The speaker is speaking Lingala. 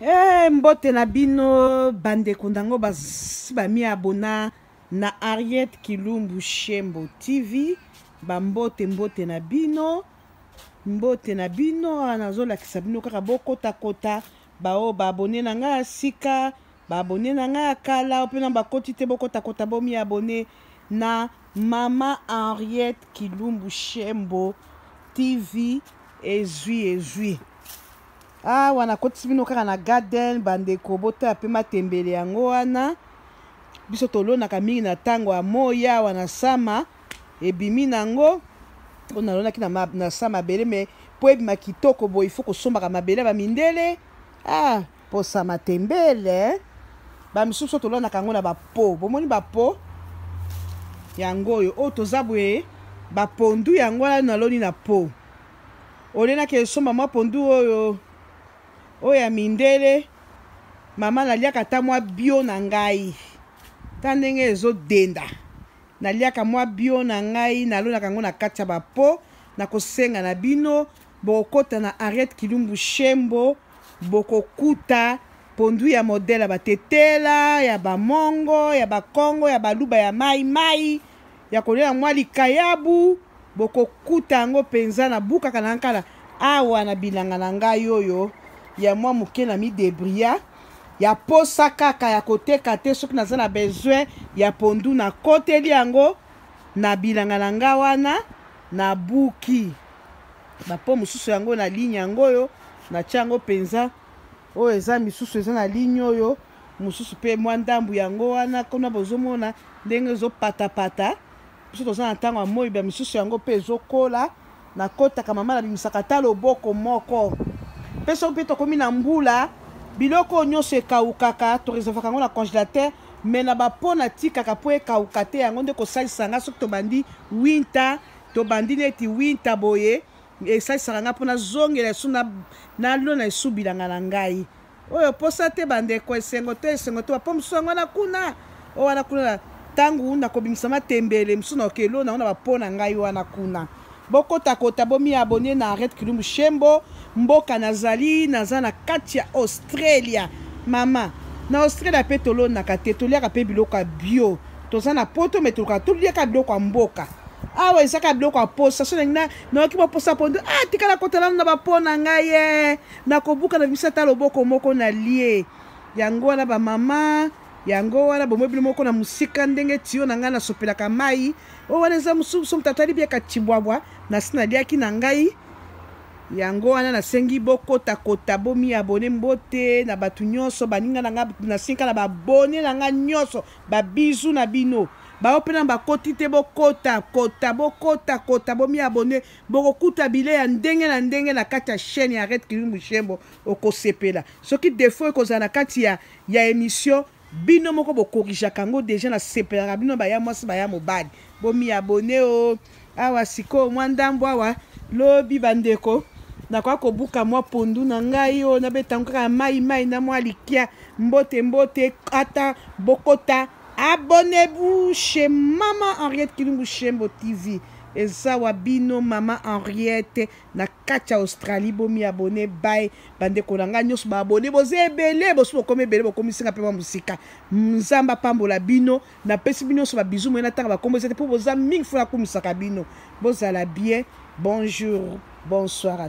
Hey, eh, mbote na bino bandeko ndango basi bami abona na Harriet Kilumbu Shembo TV ba mbote mbote na bino mbote na bino ah, nazolakisa bino kaka bokotakota baoyo baabone na ngai ya sika baabone na ngai ya kala mpe na bakoti te bokotakota bomi abone na mama Henriette Kilumbu Shembo TV ezwi ezwi awa nakotisi bino kaka na garden bandeko botala mpe matembele yango wana biso tolonaka mingi na ntango ya moi awa na sama ebimi nango oyo nalonaki na, na sa mabele me mpo ebima kitoko boye ifo kosombaka mabele ya bamindele ah, posa matembele bamisusu oyo tolonaka yango na bapo bomoni bapo yango oyo oyo toza boye bapondu yango wana naloni na po ole nakende somba mwa pondu oyo oyo ya mindele mama naliaka ata mwa bio na ngai ta ndenge ezodenda naliaka mwa bio na ngai nalonaka yango na kati ya bapo nakosenga na bino bokokota na henriette kilumbu shembo bokokuta pondu ya modele ya batetela ya bamongo ya bakongo ya baluba ya mai mai ya kolia na mwa likayabu bokokuta yango mpenza na bukaka na nkala awa na bilanga na ngai oyo ya mwa moke na midebria ya posa kaka ya koteka te soki naza na besoin ya pondu nakoteli yango na bilanga na ngai wana nabuki bapo mosusu yango na ligne yango oyo natya yango mpenza oyo eza misusu eza na ligne oyo mosusu mpe mwa ndambo yango wana kuna bozomona ndenge ezopatapata biso toza na ntango ya moi bya misusu yango mpe ezokola nakotaka mama nabimisaka ata loboko moko mpe soki mpe tokomi na mbula biloko oyo nyonso ekawukaka toreservaka yango na congélateur me na bapo natikaka mpo ekawuka te yango nde kosalisa nga soki tobandi winter tobandi neti winter boye esalisaka nga mpo nazongela esu nalona esu bilanga na ngai oyo posa te bandeko esengo te esengo te wapo mosusu yango wana kuna oyo wana kuna ntango nakobimisa matembele mosusu na okelo nango na bapo na ngai wana kuna bokotakota bomiabone na red kilumbu shembo mboka nazali naza na kati ya australia mama na australia mpe tolonaka te toliaka mpe biloko ya bio toza na poto me tolukaka toliaka biloko ya mboka awa ezaka biloko ya posa so nayoki baposa mpo nde ah tikala kotala na bapo na ngai ye eh. nakobuka na biso ata loboko moko na lie yango wana bamama yango wana bomoi bino moko na mosika ndenge tiyo na ngai nasopelaka mai oyo wana eza mosusu moto atali biaka cibwabwa nasi naliaki na ngai yango wana nasengi bokotakota bomiabone mbote na bato nyonso baninga na ngai nasengi na babone na ngai nyonso babizu na bino baoyo mpe na bakoti te bokota kota bokota kota bomiabone bokokuta bile ya ndenge na ndenge na kati ya chaîne ya red kilu mushembo okosepela soki defo ekozala na kati ya, ya émission bino moko bokorijaka yango deja nasepelaka bino baya mwasi baya mobali bomiabone o awa sikoyo mwa ndambo awa lobi bandeko nakoya kobuka mwa pondu na ngai oyo nabetango kaka mai mai na mwa likia mbote mbote ata bokota Abonnez-vous chez Maman Henriette Kilumbu Shembo TV. eza wa bino mama henriette na kati ya australie bomi abone bay bandeko na ngai nyonso baabone boza ebele bosi bokomi ebele bokomisinga mpe mwa mosika nzambe apambola bino napesi bino nyonso babizu moye natanga bakombo eza te mpo boza mingi fona akumisaka bino bozala bien bonjour bonsoir à